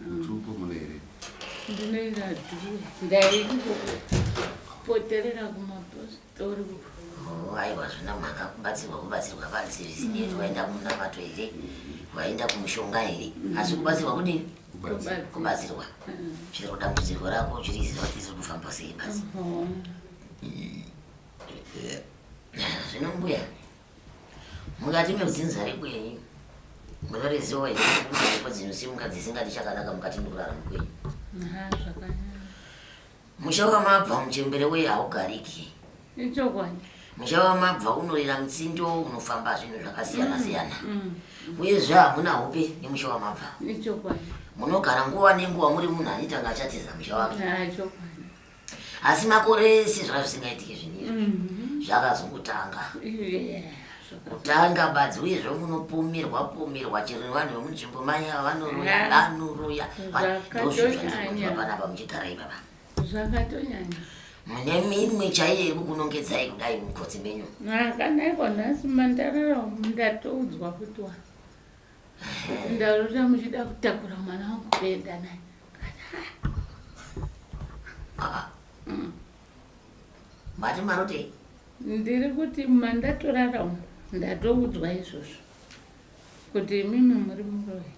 Mutupo mune here? Ndinoira dhuwe. Ndairi kupoterera kumapostori. Aiwa zvina mhaka kubatsirwa kubatsirwa panzi zvisinei waenda kumunamato here? Waenda kumushonga here? Asi kubatsirwa kudini? Kubatsirwa. Chero dambudziko rako chiriziva kuti ziri kufamba sei basi. Zvino mbuya. Mukati meudzinza rekwenyu munorezivo heko dzinosimuka dzisingati chakanaka mukati mekurarama kwenyu. Musha wamabva muchembere uye haugariki. Ichokwadi. Musha wamabva unorira mutsindo unofamba zvinhu zvakasiyana mm, siyana. Mm. Uyezve hamuna hope nemusha wamabva. Ichokwadi. Munogara nguva nenguva muri munhu anitanga achatiza musha wake. Ah, asi makore ese zvanga zvisingaitike zvinizvi mhm. zvakazongotanga kutanga badzi uye zvomunopomerwa pomerwa chero vanhu vemunzvimbo maya vanoroya vanoroya ndozvozvandinoa panapa muchigara ipapa zvakatonyanya mune minwe chaiyo yekukunongedzai kudai mukotsi menyu kana iko nhasi mandarara ndatoudzwa kuti wa Ndarota muchida kutakura mwana wangu kuenda naye. Mati marotei? Ndiri kuti mandatorara umu ndatoudzwa izvozvo kuti imimi muri muroyi.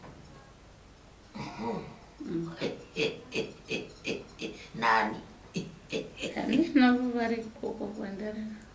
Nani? Handina kuvari ikoko kwandarara.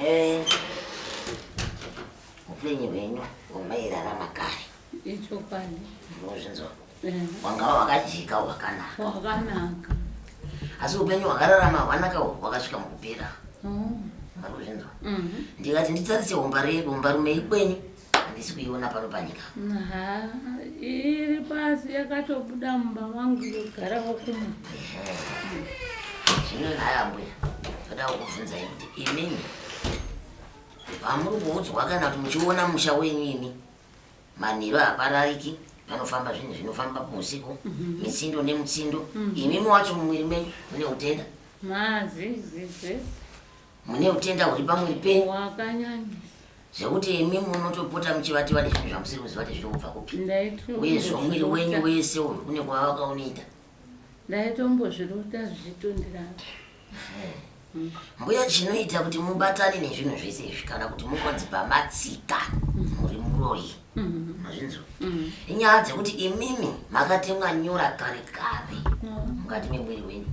Ehe. Upenyu hwenyu hwamairarama kare. Ichokwadi. Unozvinzwa. Wanga wakajika hwakanaka. Hwakanaka. Asi upenyu hwakararama hwanaka hwakasvika mukupera. Oh. Unozvinzwa. Mhm. Ndikati nditarise umbarume ikwenyu. handisi kuiona pano panyika iri pasi yakatobuda mumba mangu yogara wokuma zvino nhaya mbuya ndoda kukubvunzai kuti imini pamuri kuudzwa kana kuti muchiona musha wenyu imi manhiro haparariki panofamba zvinhu zvinofamba muusiku mhm. mitsindo nemutsindo mhm. imimi wacho mumwiri menyu mune utenda mazizizi mune utenda huri pamwiri penyu zvekuti imi munotopota muchivati vane zvinhu zvamusiri kuziva kuti zviri kubva kupi uye zvomwiri wenyu wese uri kune kwava vakaunoita ndaitombozvirota zvichitondirana mbuya chinoita kuti mubatane nezvinhu zvese izvi kana kuti mukonzi pamatsika muri muroyi mazvinzwa inyaya dzekuti imimi makatemwa nyora kare kare mukati memwiri wenyu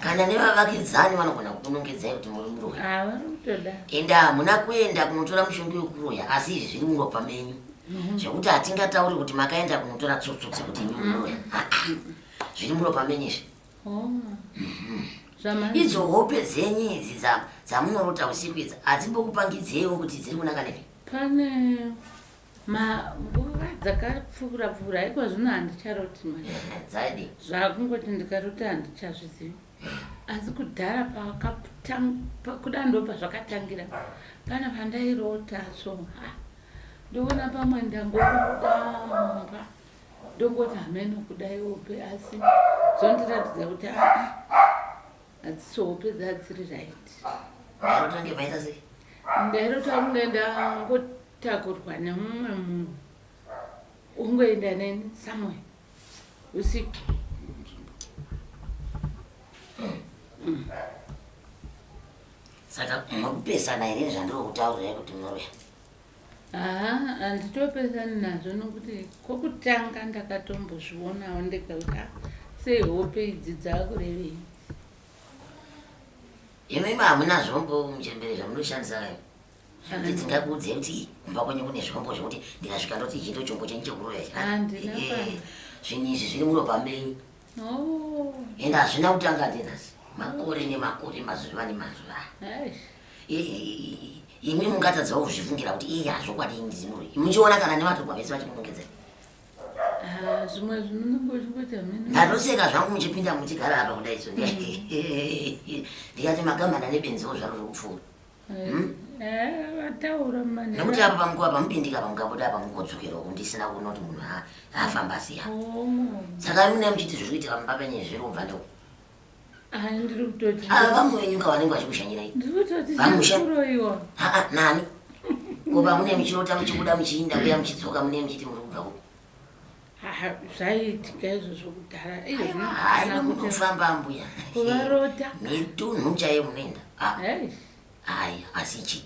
kana nevavakidzani vanogona kukunongedzai kuti muri muroyi ende hamuna kuenda kunotora mushonga wekuroya asi izvi zviri muropa menyu mhm. zvekuti hatingatauri kuti makaenda kunotora tsotso dzekuti imi muroya mhm. zviri muropa menyu izvi oh. mhm. idzo hope dzenyu idzi dzamunorota usiku idzi hadzimbokupangidzeiwo kuti dziri kunaka nepi Pane manguva dzakapfuura pfuura haiko zvino handicharoti manje dzadi zvakungoti ndikaroti handichazvizivi asi kudhara pakuda ndo pazvakatangira pana pandairota so ha ndoona pamwe ndangokudamba ndongoti hameno kudai ope asi dzondiratidza kuti aa Hadzisi hope dzadziri right. Aro tange paita sei? Ndairo tange ndangotakurwa nemumwe munhu. Ungoenda neni somewhere. Usiku. Saka muri kupesana here zvandiri kutaurira kuti muroya? Haa handitopesani nazvo nokuti kokutanga ndakatombozvionawo ndekakuti ah, sei hope idzi dzakurevei imi imi hamuna zvombo muchembere zvamunoshandisa kayo kuti dzingakuudzei kuti kumba kwenyu kune zvombo zvekuti ndikasvika ndoti ichi ndo chombo chenyu chekurova ichi Ah, ndina Eh, pano. zvinhu izvi zviri muropa menyu Oh, ende hazvina kutanga ndinasi makore nemakore mazuva nemazuva aish. imi mungatadzawo kuzvifungira kuti iyi hazvokwadi indizimuri muchiona kana nevatogwa vese vachikunongedzera ah, zvimwe zvinonongoita mene ndatoseka zvangu muchipinda muchigara apa kuda iso mm. ndikati magamana nebenziwo zvaro zvokupfuura eh, hmm? eh, nekuti apa pamukuva pamupindika pamukabuda apa mukodzokera uku ndisina kuona kuti munhu afamba siya oh. saka mune muchiti zviri kuitira mumba penye zviri kubva ndoo ava vamwe venyu ka vanenge vachikushanyirai vamusharoiwa haa nani ko vamune muchirota muchibuda muchiinda kuya muchidzoka mune muchiti muri kubva kupi zvaiitika izvozvo kudhara haina kutofamba mbuya kuvarota netunhu chaiyo munoenda aya asi chii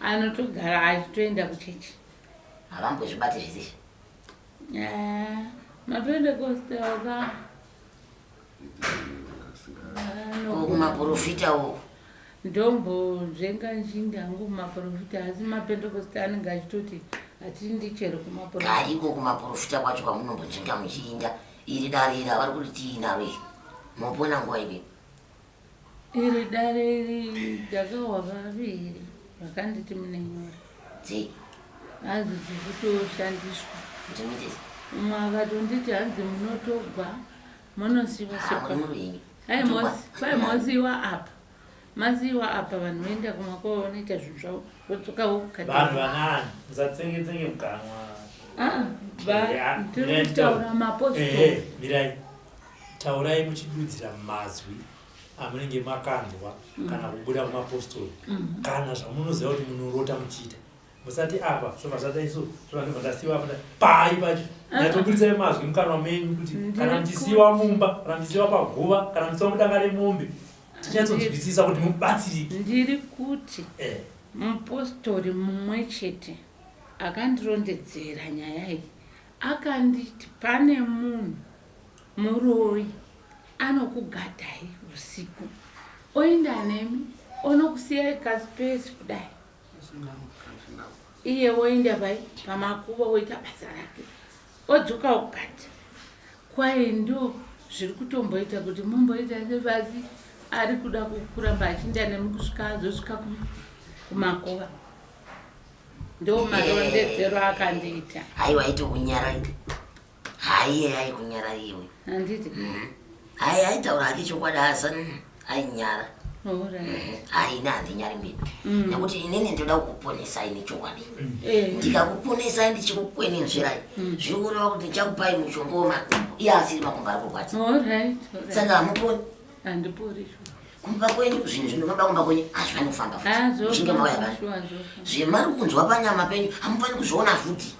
anotogara achitoenda kuchechi havambozvibati zvese izvi eh, matoenda kostelka kumaprofita uku ndombonzvenga nchinda hangu kumaprofita asi mapentekosta anenge achitoti hatindi chero kumaproiko kumaprofita kwacho kwamunombonzvenga muchiinda iri dare iri avari kuti tiinaro iri mopona nguva ipi iri dare iri ndakahwa vaviri vakanditi mune nyora dzei hanzi dzikutoshandiswa umwe akatonditi hanzi munotogwa monosiwa ai mosiwa apa masiwa apa vanhu voenda kumakova vanoita zvinhu zvavo vodzoka vokukavanhu vanani musatsengetsenge muganwa ah, ah, tiri kutaura mapostori taurai muchidudzira mazwi amunenge makanzwa mm. kana kubuda kumapostori mm. kana zvamunoziva kuti munorota muchiita musati apa zvovazvataiso zvovandasiwa apa pai pacho natoburitsa ah. mazwi mukanwa menyu kuti kana muchisiwa mumba kana muchisiwa paguva kana muchisiwa mudanga remombe tinyatsodzwisisa kuti mubatsirike ndiri kuti eh. mupostori mumwe chete akandirondedzera nyaya iyi akanditi pane munhu Muroyi anokugadai usiku oenda nemi onokusiyai kaspace kudai iye woenda pai pamakuva woita basa rake odzoka ukati kwaye ndo zviri kutomboita kuti mumboita sevazi ari kuda kukuramba achinda nemi kusvika azosvika kumakuva ndo marondedzero akandiita aiwa aiti unyaraidi haiye ai kunyara iwe handiti mm-hmm. ai aitaura hake chokwadi asa ainyara haina mm-hmm. handinyari mbiri mm. nekuti inini ndoda kukuponesai nechokwadi mm. eh. ndikakuponesai ndichikukwenenzverai mm. zviri kureva kuti ndichakupai mushonga wemakumbo iye asiri makumbo ari kurwadza saka hamuponi handipori kumba kwenyu zvinhu zvinonoda kumba kwenyu hazvi vanofamba futichinge ah, mauya vanhu zvemari kunzwa panyama penyu hamufani kuzviona futi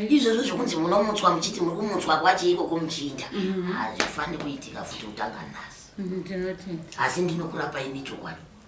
izvozvo zvekunzi munomutswa muchiti muri kumutswa kwacheiko komuchinda mm-hmm. hazvifani kuitika futi kutanga nhasi mm-hmm, asi ndinokurapai nechokwadi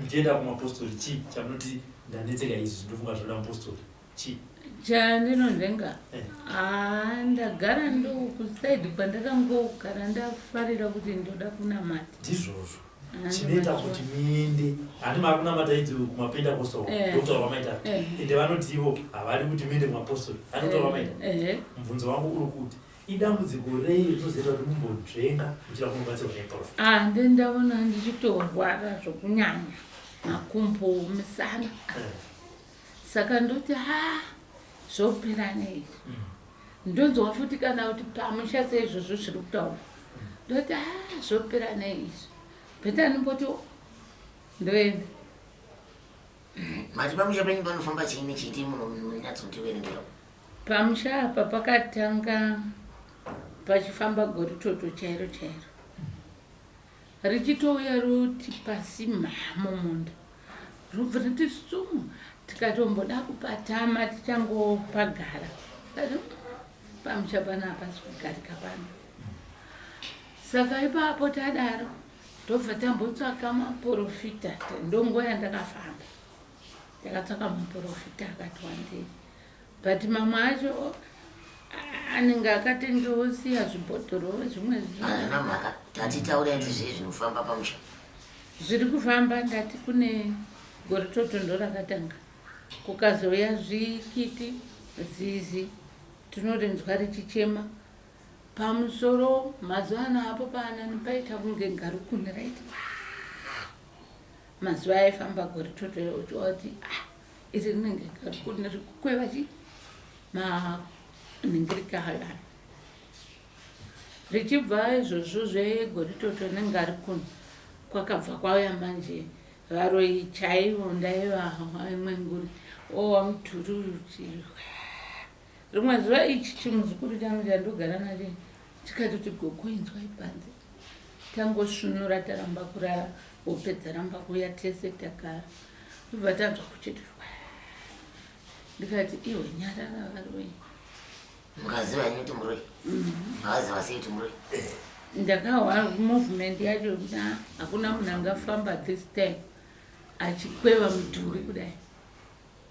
muchienda kumapostori chii chamunoti ndanetseka izvi ndofunga zvoda mupostori chii chandinonhenga eh. ah, ndagara ndokusaidi kwandakangogara ndafarira kuti ndoda kunamata ndizvozvo ah, chinoita kuti muende handi makunamata idzi kumapinda postori eh. ndokutora vamaita eh. ende vanoti ivo havadi kuti muende kumapostori handi kutora vamaita mubvunzo wangu uri kuti idambudziko rei rinozoita kuti mumbonzvenga muchida kunobatsirwa neprof ah, ndi ndaona ndichitorwara zvokunyanya makumbo misana eh. saka ndoti ha ah, zvopera nei mm. ndonzwa futi kana kuti pamusha seizvozvo zviri kutaura mm. ndoti ha ah, zvopera nei izvi bheta ndimboti ndoenda Mati pamusha penyu panofamba chii nechiti munonyatsotiverengera? Pamusha apa pakatanga pachifamba goritoto chairo chairo richitouya roti pasi mhamo munda robva riti sumu tikatomboda kupatama tichangopagara ati pamusha pano hapasi kugarika pano saka ipapo tadaro Ndobva tambotsvaka maporofita ndongo yandakafamba takatsvaka maporofita akati wandei but mamwe acho anenge akatengewo siya zvibhodhoro zvimwe zvina mhaka tatitaura iti zvii zvinofamba pamusha zviri kufamba ndati kune gore totondo rakatanga kukazouya zvikiti zizi tinorinzwa richichema Pamusoro mazuva ano apo paanani paita kunge ngarukuni right mazuva aifamba gore toto uchiwa kuti ah, iri rinenge ngarukuni rikukweva chi maningirika halani richibva izvozvo zvegore toto nengarukuni kwakabva kwauya manje varoyi chaivo ndaiva imwe nguri owa oh, mudhuri uyu Rimwe zuva ichi chimuzukuru changu chandogara nacho chikati kuti gogo inzwai panze tangosvinura taramba kurara hope dzaramba kuuya tese takara tobva tanzwa kuchitirwa ndikati iwe nyarara varoyi mukaziva henyu kuti muroi maaziva sei kuti muroi ndakawa movement yacho kuda hakuna munhu angafamba this time achikweva mudhuri kudai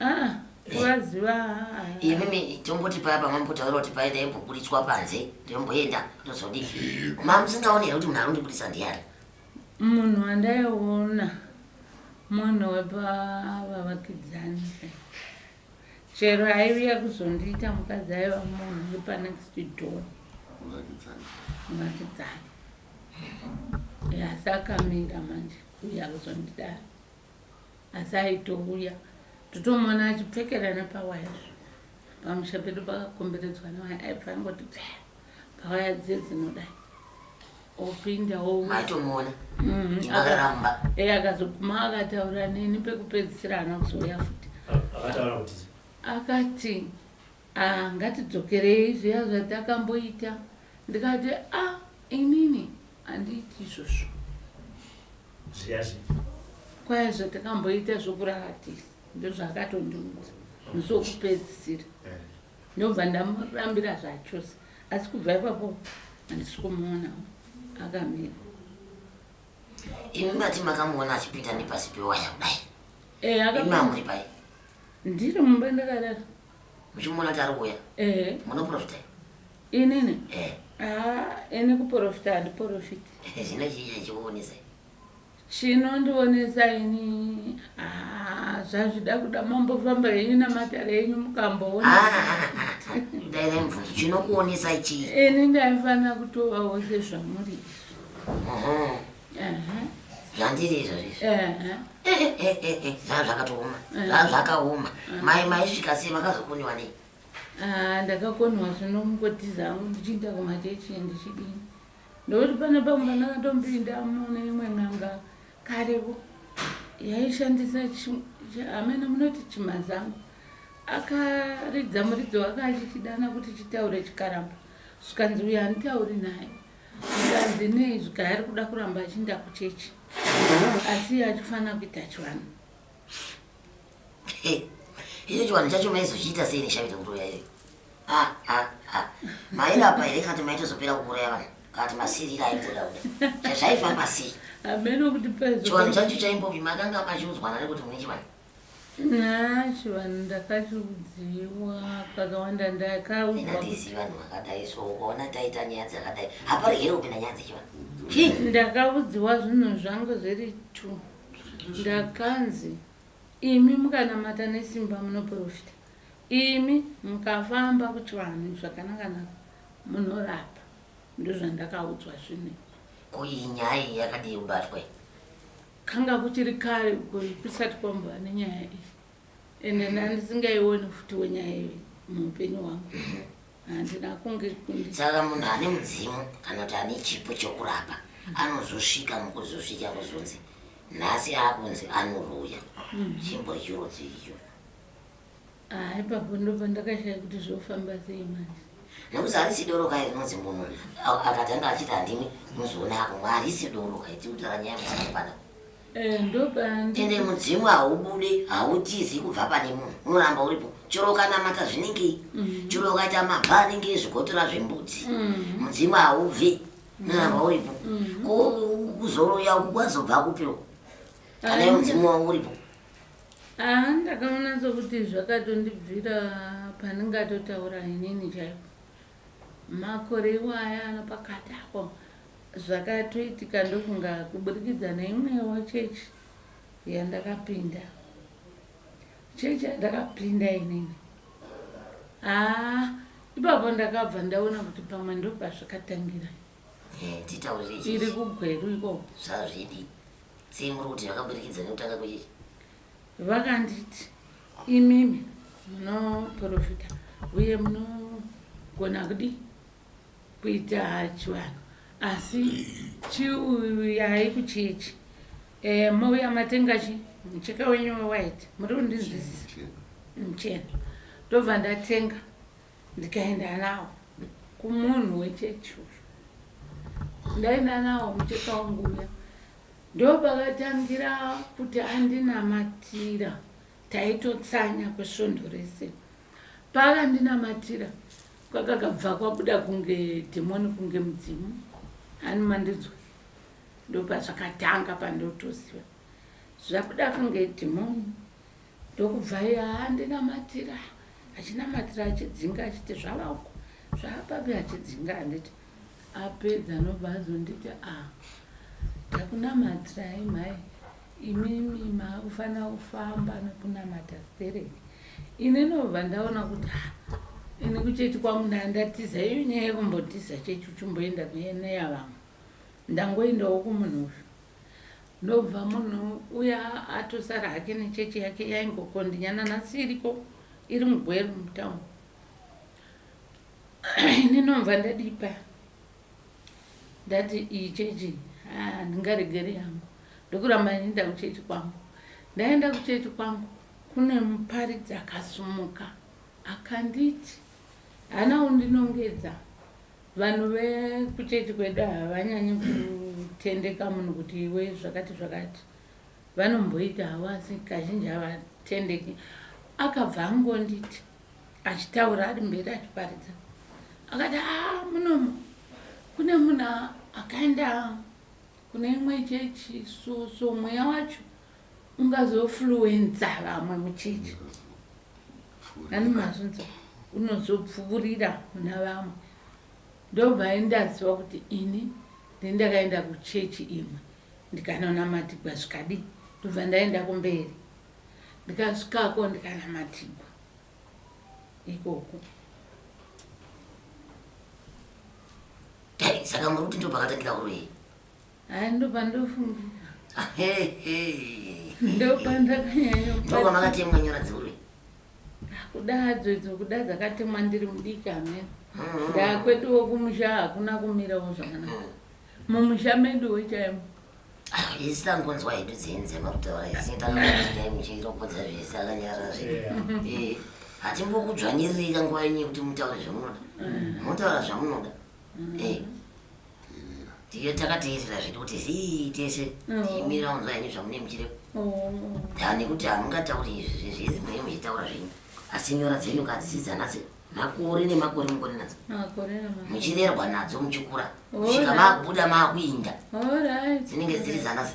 Ah, kuvaziva ah, ah. imimi tomboti paya pamambotaura kuti paye ndaimboburitswa panze ndomboenda ndozodi ma musingaone here kuti munhu arundibudisa ndiyari munhu wandaiona munhu wepavavakidzani chero aiviya kuzondiita mukadzi aiva munhu wepanext door Muvakidzani. vakidzani asi akamira manje uya kuzondidaro asi aitouya totomuona achipfekera nepawaya zvo pamusha pedu pakakomberedzwa newaya aibva angoti psa pawaya dziye dzinodai opinda oaitomuona mhm. akaramba e eh, akazoguma akataura neni pekupedzisira ana kuzouya futi akati Ah ngatidzokerei zviya zvatakamboita ndikati ah inini handiiti izvozvo. Zviya zvipi? Kwai zvatakamboita zvokuraratiza ndozvakatondiudza musi wokupedzisira Eh. ndobva ndamurambira zvachose asi kubva ipapo handisi kumuona akamira. Imi mati makamuona achipinda nepasi pewaya kudai. Eh Imi akapinda hamuri pai? ndiri mumba ndakarara. muchimuona kuti ari kuuya eh. munoprofita inini eh. ah, ini kuprofita handiprofiti eh, zvino chichionesa chinondionesa ini ah, zvazvida kuda mambofamba henyu namatare enyu mukamboona ah, ndairemvunzo chinokuonesa chii ini ndaifanira kutovawo sezvamuri zvandiri izvozvo izvo zvaa zvakatooma zvaa zvakaoma mai maisvika sei makazokoniwa nei ah, ndakakoniwa zvino kungotiza hangu ndichiinda kumachechi ndichidini ndokuti pane pamwe pandakatombinda mune imwe n'anga karevo yaishandisa amene munoti chimazango akaridza muridzo wake achichidana kuti chitaure chikaramba zvikanzi uyo anditauri naye Zvikanzinei zvika ari kuda kuramba achiinda kuchechi asi achifanira kuita chivanhu. Icho chivanhu chacho maizochiita sei neshamiri kuroya iyo? Ah, ah, ah. Mairapa here kati maitozopera kuuraya vanhu? Kati masirira aibuda kuda. Zvazvaifamba sei? Hameno kuti paizo. Chivanhu chacho chaimbopi makanga machiudzwana nekuti mune chivanhu. Nah, chivanhu ndakachiudziwa kakawanda ndakaudzwa. Ndisi vanhu vakadai so ukaona taita nyaya dzakadai haparegere kupinda nyaya dzechivanhu. Chii? Ndakaudziwa zvinhu zvangu zviri two. Ndakanzi imi mukanamata nesimba munoprofita. Imi mukafamba kuchivanhu zvakanaka naka munorapa. Ndozvandakaudzwa zvinhu. Ko iyi nyaya iyi yakadii kubatwa iyi? Kanga kuchiri kare uko kusati kwambova nenyaya iyi ende ndandisingaione futi wenyaya iyi muupenyu hwangu handina kunge kundi saka munhu ane mudzimu kana kuti ane chipo chokurapa anozosvika mukuzosvika kuzonzi nhasi akunzi anoroya chimbo chirudzi icho Ah, ipapo ndopandakashaya kuti zvofamba sei manje nekuti harisi doro kai rinonzi munhu akatanga achiti handimi muzoona ako harisi doro kai tikutaura nyaya musaipana eh, ende mudzimu haubude hautizi kubva pane munhu unoramba uripo chero ukanamata zvinenge mm. chero ukaita mabva anenge ezvigotora zvembudzi mm. mudzimu haubve unoramba uripo mm. kuzoroya uku kwazobva kupiro anayo mudzimu wavo uripo Ah, ndakaona sokuti zvakatondibvira pandingatotaura inini chaipo. Makore iwaya anopakati apo zvakatoitika ndofunga kuburikidza neimwewo chechi yandakapinda. Chechi yandakapinda inini. Ah, ipapo ndakabva ndaona kuti pamwe ndopazvakatangira. Eh, titaurire chii? iri kugweru ikoko Zvazvidi. Sei muri kuti zvakaburikidza nekutanga kwechichi? vakanditi imimi munoprofita uye munogona kudi kuita chivanhu asi chiuyai kuchechi e, mouya matenga chi mucheka wenyu wewhite muri kundinzwisisa muchena ndobva ndatenga ndikaenda nawo kumunhu wechechi uyu ndaenda nawo mucheka wangu uya ndopakatangira kuti andinamatira taitotsanya kwesvondo rese paakandinamatira kwakakabva kwabuda kunge dhemoni kunge mudzimu ani mandidzwa ndopazvakatanga pandotoziva zvakuda kunge dhemoni Ndokubva andinamatira achinamatira achidzinga achiti zvavako zvaapapi achidzinga anditi apedza anobva azonditi a ah, ndakunamatirai mhai imimi maakufanira kufamba nokunamata stereki ini nobva ndaona kuti ha ah, ini kuchechi kwangu ndaa ndatiza iyo nyaya yekumbotiza chechi uchimboenda kuyeneya vamwe ndangoendawo kumunhu uyu Ndobva munhu uya atosara hake nechechi yake yaingokondinya nanhasi iriko iri mugweru mutown ini nomva ndadipa ndati iyi chechi handingaregeri yangu ndokuramba ndiinda kuchechi kwangu ndaenda kuchechi kwangu kune muparidzi akasumuka akanditi haana undinongedza Vanhu vekuchechi kwedu havanyanyi kutendeka munhu kuti iwe zvakati zvakati vanomboita havo asi kazhinji havatendeki akabva angonditi achitaura ari mberi achiparidza akati a ah, munomu kune munhu akaenda kune imwe chechi so so mweya wacho ungazofluenza vamwe muchechi ani mazvinzo unozopfuurira muna vamwe ndobva ndaziva kuti ini ndendakaenda kuchechi imwe ndikanonamatigwa zvikadii ndobva ndaenda kumberi ndikasvikako ndikanamatigwa ikoko saka muri kuti ndobvakatangira kuroyei Hai ndopandofungira. Hey hey. Ndopandakanyanya. Ndoko makati mwenyora dzuri. Kudadzo idzo kuda dzakatemwa ndiri mudiki amene. Mm-hmm. Ndakwetuwo kumusha hakuna kumirawo zvakanaka. Mm. Mumusha medu wechaimo. Ah, isi tangonzwa hedu dzinze makutaura isi takaaa muchiropodza zvese akanyarara zve eh, hatimbokudzvanyiririka nguva yenyu yekuti mutaure zvamunoda mm. motaura zvamunoda mm. eh. ndiyo takateerera zvedu kuti zii tese tiimira unzwa henyu zvamune muchire dani kuti hamungatauri izvi zvizi mune muchitaura zvenyu asi nyora dzenyu kadzidza nhasi makore nemakore mukore nadzo muchirerwa nadzo muchikura svika makubuda makuinda dzinenge dziri dzanasi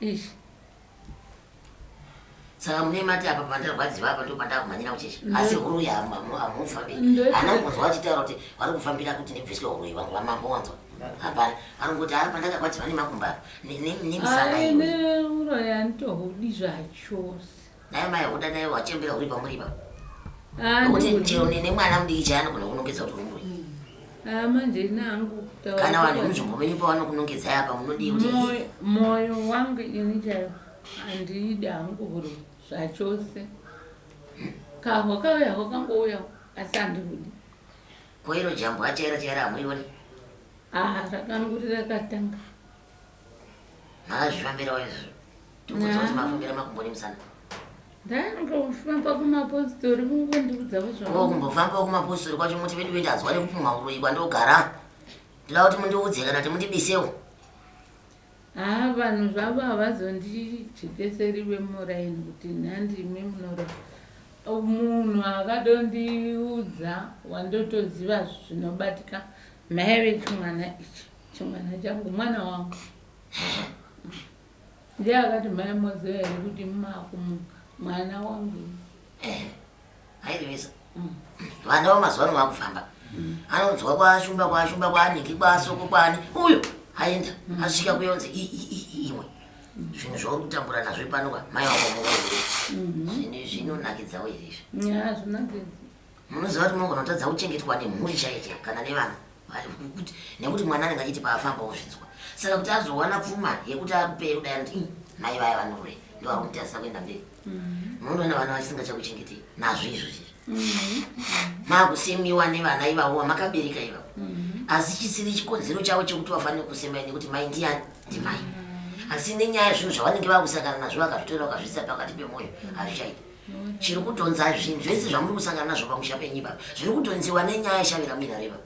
Ish. saka mune mati apa pandarwadziwa apa ndo pandakumhanyira kucheche asi huruyi hamufambi anongonzwa vachitaura kuti vari kufambira kuti ndibviswe huruyi vangu vamambo wanzwa hapana anongoti ari pandakakwadzima nemakumba nemisana iwe uroyi anitohudi zvachose Naye mai huda naye wachembera uri pamuri ipapo. Ah, Nokuti no. chero nene mwana mudiki chaya anogona kunongedza kuti umburi. Ah, manje nangu taura Kana vanhu kuti- vemunzvimbo menyu pavanokunongedzai apa munodii kuti Moyo- moyo wangu ini chaiwo handiidi hangu huro zvachose kahwa kauya hwakangouyawo asi handihudi koiro jambwa chaira chaira hamurioni aa rakanguri rakatanga Mazvifambirawo izvo. Tikukudzwa kuti mafambira makumbo nemusana. Ndaingofamba kumapositori kungondiudza kuzvaa. Ko kumbofamba kumapositori kwacho muti vedu vedu azwa nekupumha uroyi kwandogara. Ndinoda kuti mundiudze kana kuti mundibisewo. Haa vanhu zvavo havazondijekeseri vemuraini kuti nhandimi munoroa. Munhu akadondiudza wandotoziva zvinobatika mheve chimwana ichi. Chimwana changu mwana wangu. Ndiye akati mai moziva here kuti makumuka mwana wangu. Eh, Hairevesa. Mm. Vana vamazuva ano vakufamba. Mm. Anonzwa kwashumba kwashumba kwanhingi kwasoko kwani uyo aenda mm. asvika kuyonzi iwe zvinhu zvauri kutambura nazvo panoka mai wako mukuru mm-hmm. zvinhu zvinonakidzawo izvi munoziva kuti munogona kutadza kuchengetwa nemhuri chaiyo chaiyo kana nevana kuti nekuti mwana anenge achiti paafamba ozvinzwa saka kuti azowana pfuma yekuti akupei kudai anoti mai vaya vanoroya ndo vari kumutarisa kuenda mberi mm-hmm. munotoona vana vachisingachakuchengetei nazvo izvo chizvo mm-hmm. makusemiwa nevana ivavo vamakabereka ivavo mm-hmm. asi chisiri chikonzero chavo chekuti vafanire kusemai nekuti mai ndiyani ndimai asi nenyaya yezvinhu zvavanenge vakusangana nazvo vakazvitora vakazvisa pakati pemwoyo hazvichaiti chiri kutonza zvinhu zvese zvamuri kusangana nazvo pamusha penyu ipapa zviri kutonziwa nenyaya yeshavira muirareva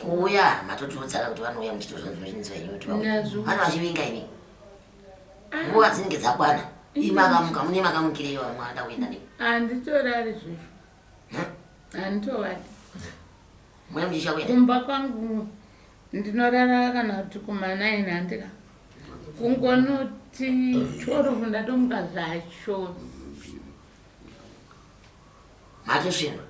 kuuya matotiudzana kuti vanouya muchitozva zvinozvinzwa ini kuti vano vachivinga ini nguva dzinenge dzakwana imakamuka mune makamukireyo vamwe vada kuenda nei anditorari zvefu anditovati mwana mucheche wako kumba kwangu ndinorara kana kuti kumanaini handika kungonoti tworofu ndatomuka zvacho matosvimba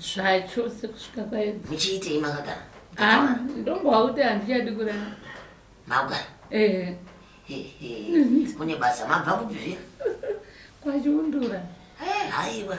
zvacho sekusvika kwaedza muchiitei makagara ah, ndongowa kuti handichadi kurara makugara ehe kune basa mabva kupi zviya kwachiundura haiwa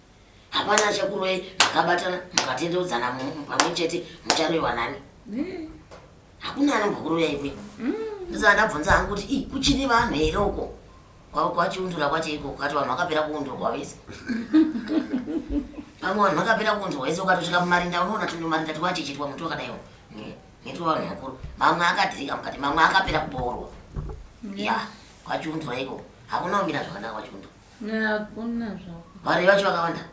hapana achakuroyi makabatana mukatendeudzana pamwe chete mucharoyiwa nani mm. hakuna anombokuroya ikwe mm. ndosaka ndabvunza hangu kuti i kuchine vanhu here uko kwachiundura kwacho iko ukati vanhu vakapera kuundurwa vese pamwe vanhu vakapera kuundurwa vese ukatosvika mumarinda unoona tino marinda tiwachichitwa muti wakadaiwo nitwa vanhu vakuru mamwe akadirika mukati mamwe akapera kuboorwa ya kwachiundura iko hakuna kumira zvakanaka kwachiundura Hakuna zvako. Mari yacho vakawanda.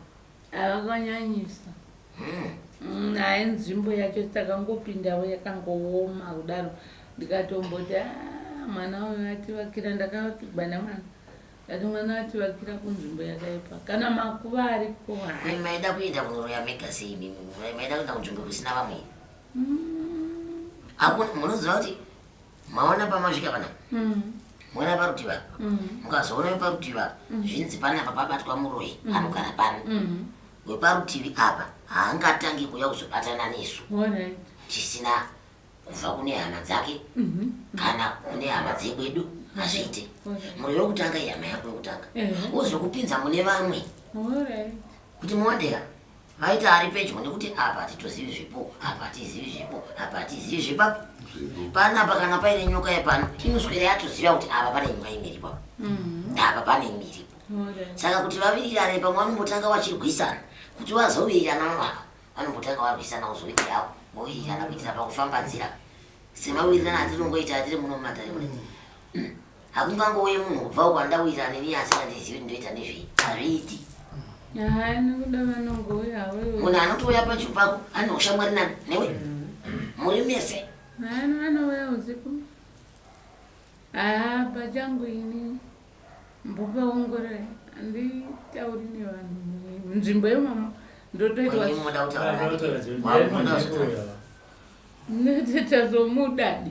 Havakanyanyisa. Hmm. Mm, Naye nzvimbo yacho takangopindawo yakangooma kudaro ndikatomboti ah, mwana uyo ativakira ndakavakirwa nemwana ndati mwana ativakira kunzvimbo yakaipa kana makuva ariko maida kuenda kunoroya mega sei maida kuenda kunzvimbo kusina vamwe mm. munoziva kuti maona pamasvika pana mm. mwana parutivi apa mm. mukazoona weparutivi apa mm. zvinzi panapa pabatwa muroyi mm. anogara pano mm. weparutivi apa haangatangi kuuya kuzobatana nesu right. tisina kubva kune hama dzake mm -hmm. kana kune hama dzekwedu hazviite okay. muroi wekutanga ihama yako yekutanga mm -hmm. wozokupinza mune vamwe right. kuti moondeka Maita ari pedyo nekuti apa hatitozivi zvipo, apa hatizivi zvipo, apa hatizivi zvipa. Panapa kana paine nyoka yepano inoswera yatoziva kuti apa pane nyoka imiripo. Mm-hmm. Apa pane imiripo. Saka kuti vavirirane pamwe vanombotanga vachirwisana kuti vazovirirana mavaka vanombotanga varwisana kuzoitirawo vovirirana kuitira pakufamba nzira semawirirana atirongoita atiri muno mumatare mune mm. hakungangouye munhu kubvawo kwandauyira ane viye asingandizivi kuti ndoita nezvei hazviiti munhu anotouya panzvimbo pako ane ushamwari nani newe muri mese anouya usiku haa pachangu ini mbokaongorora anditauri nevanhu munzvimbo yemama ndotoitwa ndotoita zomudadi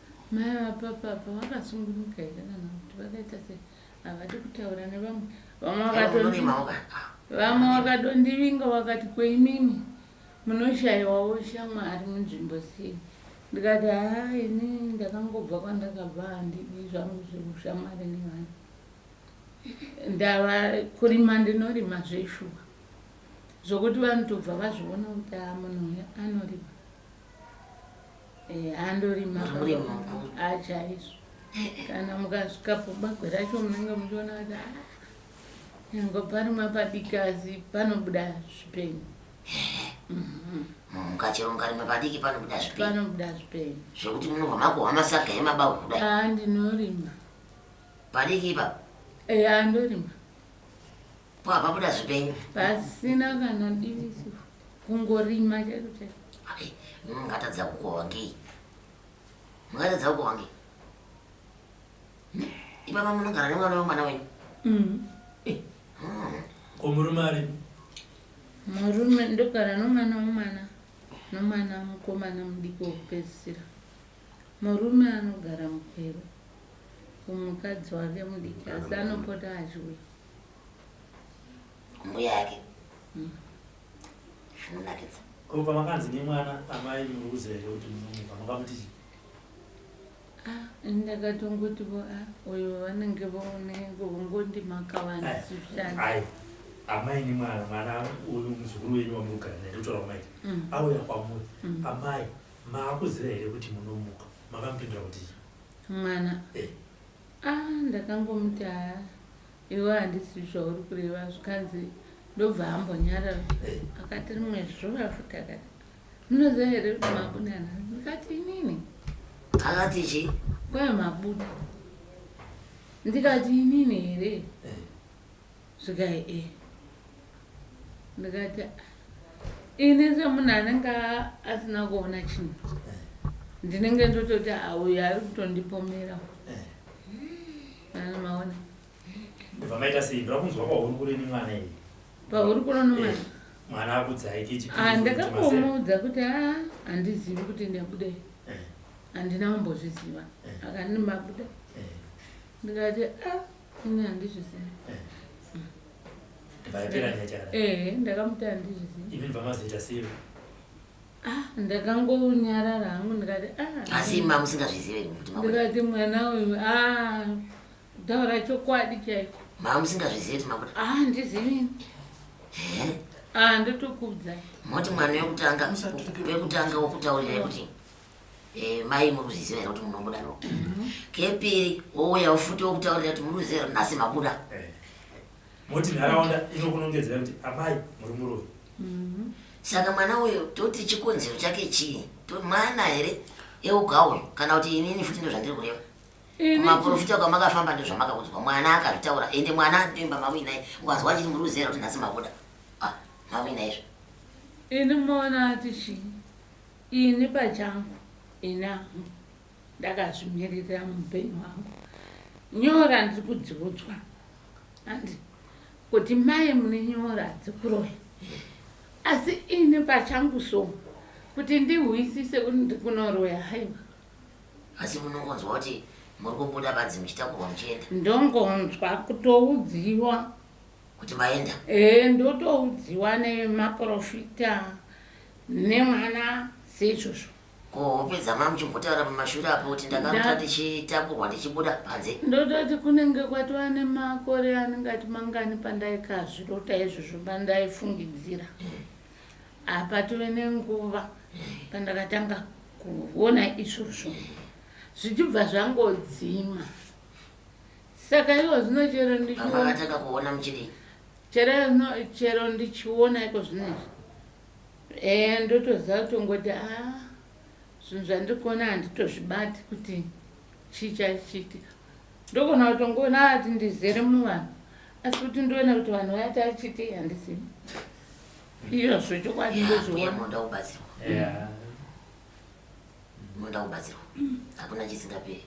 Mai vapapa apa vakasungunuka here kana kuti vakaita se havadi kutaura nevamwe vamwe vakadondivinga vakati kweimimi munoshayiwawo shamwari munzvimbo sei ndikati haa ini ndakangobva kwandakabva handidi zvangu zvekushamwari nevanhu ndava kurima ndinorima zveshuwa zvokuti vanotobva vazviona kuti aa munhu uya anorima Eh, andorima achaizvo ah, kana mukasvikapo bagwe racho munenge muchiona kuti ah, nyange parimwa padiki asi panobuda zvipenyu mhm. mukachero mukarima padiki panobuda zvipenyu panobuda zvipenyu zvekuti munobva makuhwa masaga emabawa kudai a ah, ndinorima padiki ipapo eya andorima Ko hapa buda zvipenyu. Pasina kana diriso. Kungorima chero chero. Ai, mungatadza kukohwa ngei? Mungatadza kukohwa ngei? Ipapa munogara nemwana wemwana wenyu. Mm. Eh. Mm. Ko murume ari? Murume ndogara nomwana wemwana nomwana mukomana mudiki wokupedzisira. Murume anogara mukwero kumukadzi wake mudiki asi anopota achiuya. mbuya yake mm. zvinonakidza ko pamakanzi nemwana amai muruza here kuti munomuka makamuti chii ah, ndakatongoti vo ah, uyo vanenge vaonengo vongondi makavanzishai amai nemwana mwana uyu muzukuru wenyu wamurugara naye ndotaura kumaita mm. auya kwamuri mm. amai maakuziva here kuti munomuka makamupindura kuti chii mwana eh. Ah ndakangomuti haa iwe handisi zvauri kureva zvikanzi ndobva ambonyarara akati rimwe zuva futi akati munoziva here kuti mabuda nhasi ndikati inini akati chii kwai mabuda ndikati inini here eh. Svikai e. Ndikati ini semunhu anenge asina kuona chinhu ndinenge ndototi auyo ari kutondipomera anomaona ndibva maita sei ndira kunzwa kwahuri kuri ni mwana iyi pahuri kuno ni mwana mwana akudzai kichi ah, ndakakomuudza kuti a ah, handizivi kuti ndabudei handina kumbozviziva akandi mabuda ndikati a Ini handizvizivi. Eh. Mm. Vaipera nyaya chakadai. Eh, ndakamuti handizvizivi. Imi ndvamazoita sei? Ah, ndakangounyarara hangu ndikati ah. Asi imi mamusingazvizive kuti mabuda. Ndikati mwana uyu ah taura chokwadi chaiko. Mamusingazvizive kuti mabuda. Ah, ndizivi. Eh? Ah, ndotokubvunzai. Moti mwana wekutanga wekutanga wokutaurira kuti Eh, mai muri kuzviziva here kuti munobuda no mhm. kepiri wouya ufuti wokutaurira kuti muri kuziva kuti nhasi mabuda eh. moti nharaunda inokunongedzera kuti amai muri muroyi mhm. saka mwana uyo toti chikonzero chake chii mwana here eugaoyo kana kuti inini futi ndo zvandiri kureva kumaprofita kwamakafamba ndo zvamakaudzwa mwana akazvitaura ende mwana anoimba mawinai ukanzwa chiti muri kuziva kuti nhasi mabuda ah, mawinaizvo ini mona ati chii Ini pachangu ini hangu ndakazvimiririra muupenyu hwangu nyora ndiri kudziudzwa handi kuti mai mune nyora dzekuroya asi ini pachangu so kuti ndihwisise kuti ndiri kunoroya haiwa asi munongonzwa kuti muri kubuda badzi muchitakurwa muchienda ndongonzwa kutoudziwa kuti maenda e, ndotoudziwa nemaprofita nemwana seizvozvo ko hope dzamai muchimbotaura pamashure apo kuti ndakarota ndichitakurwa ndichibuda panze ndototi kunenge kwatova nemakore anenge ati mangani pandaikazvirota izvozvo pandaifungidzira hmm. apa tove nenguva hmm. pandakatanga kuona izvozvo hmm. zvichibva zvangodzima Saka iwo zvino chero ndichiwonataka kuona muchidii chero zvino chero ndichiona iko zvinezvi eya ndotoziva kutongoti a ah, zvinhu zvandiri kuona handitozvibati kuti chii chaichiitika ndogona kutongoona ati ndizere muvanhu asi kuti ndoona kuti vanhu vaya taichiti handizivi iyozvo chokwadi ndozvionamoda kubatsirwa moda kubatsirwa hakuna chisingaperi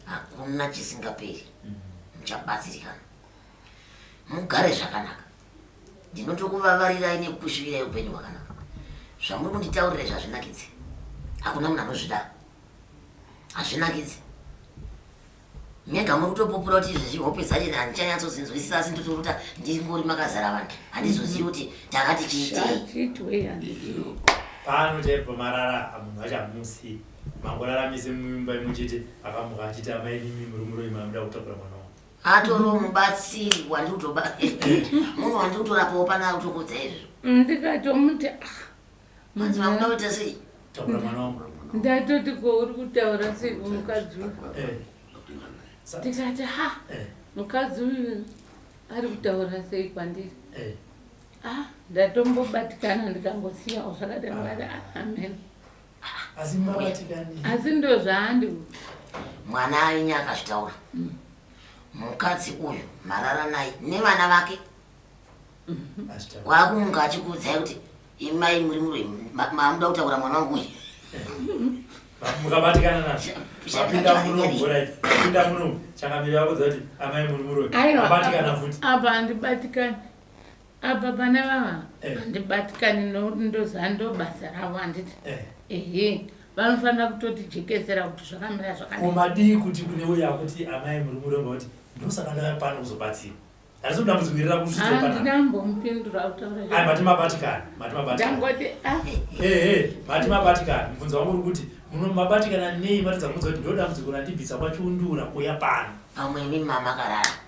hakuna chisingaperi muchabatsirikana mugare zvakanaka ndinotokuvavarirai nekukusvivirai upenyu hwakanaka zvamuri kunditaurira izvi hazvinakidze hakuna munhu anozvida hazvinakidze mega muri kutopupura kuti izvezvi hope dzacho handichanyatsozinzwisisa asi ndotoruta ndingori makazara vanhu handizozivi kuti takati chiitei pano chaipo marara munhu achamusi Mangoraramisa mumba imwe chete akamuka achiti amai nimi muri muroyi mamuda kutakura mwana wangu. Atoro mubatsiri wandiri kutoba munhu wandiri kutorapawo pana akutokodza izvo. Ndikatomuti ah. Manzi mamuda kuita sei? Takura mwana wangu. Ndatoti ko uri kutaura sei kumukadzi uyu? Eh. Sa- Ndikati ha Eh. mukadzi uyu ari kutaura sei kwandiri? Eh. Ah, ndatombobatikana ndikangosiyawo zvakadai ndikati ah, amen. asi mavatikani asi ndo zvaandi mwana ainye akazvitaura mm. mukadzi uyu marara naye nevana vake mm-hmm. wakumunga achikuudzai kuti imai muri muroi mamuda kutaura mwana wangu uyu mukabatikana nazvopinda munomupinda munomu changamiri vakuudza kuti amai muri muroi abatikana futi apa handibatikani Apa pana vava eh. handibatikani nokuti ndoziva ndo basa ravo handiti eh. ehe eh. vanofanira kutotijekesera kuti zvakamira zvakaumadii kuti kune uya kuti amai muri muromba kuti ndosaka ndava pano kuzobatsira aizodambudzikirira kusvitsopanaandinambomupindura ah, kutaura mati mabatikana mati mabatikanaangoti ah. ehe mati mabatikana mubvunzo wangu uri kuti muno mabatikana nei mati dzakubvunza kuti ndodambudziko randibvisa kwachundura kuya pano pamwe imi mama karara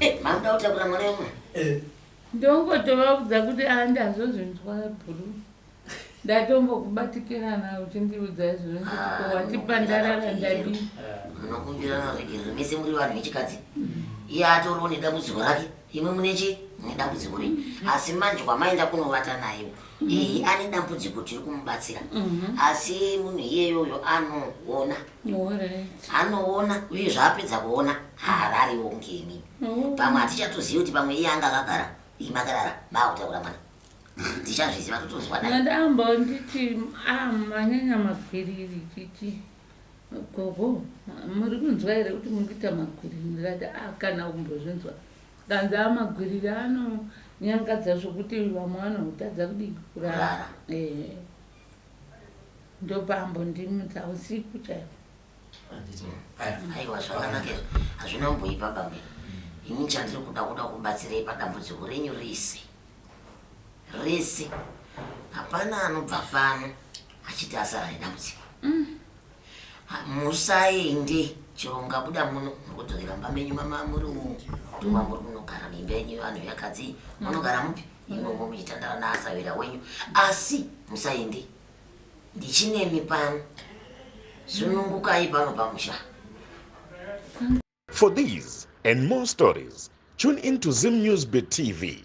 Eh, mamda kutakura mwana wemwa eh. ndongotovaudza kuti andazozvinzwa bhuru ndatombokubatikirana uchindiudza izvozvo nditiko ah, watipa ndarara ndadii unokumbirana zvegerero mese muri vanhu vechikadzi iye atoriwo nedambudziko rake imwe mune chi mune dambudziko rei mm-hmm. asi manje kwamaenda kunovata naye mm-hmm. iyi ane dambudziko tiri kumubatsira mm-hmm. asi munhu iyeyoyo anoona anoona uye zvaapedza kuona haarariwo ngeni oh. pamwe hatichatozivi kuti pamwe iye anga akagara imakarara maakutaura mwana tichazviziva totonzwa nadambo nditi amanyanya ah, magwiriri titi gogo muri kunzwa here kuti muri kuita magwiriri ndikati a ah, kana kumbozvinzwa kanzi amagwiriri anonyangadza zvokuti vamwe vanotadza kudii kurara ndobva ambondimudza usiku chaiko aiwa zvakanaka izvo hazvina mboipa bambe ini chandiri kuda kuda kubatsirei padambudziko renyu rese rese hapana anobva pano achiti asara nedambudziko mm. musaende chero mungabuda muno mukudzokera mumba menyu mama muri umo tuma muri kunogara mimba yenyu vanhu yakadzi munogara mupi mm. imwe mukuyitandara naasavira wenyu asi musaende ndichinemi pano sunungukai pano pamusha for these and more stories tune in to zim news be tv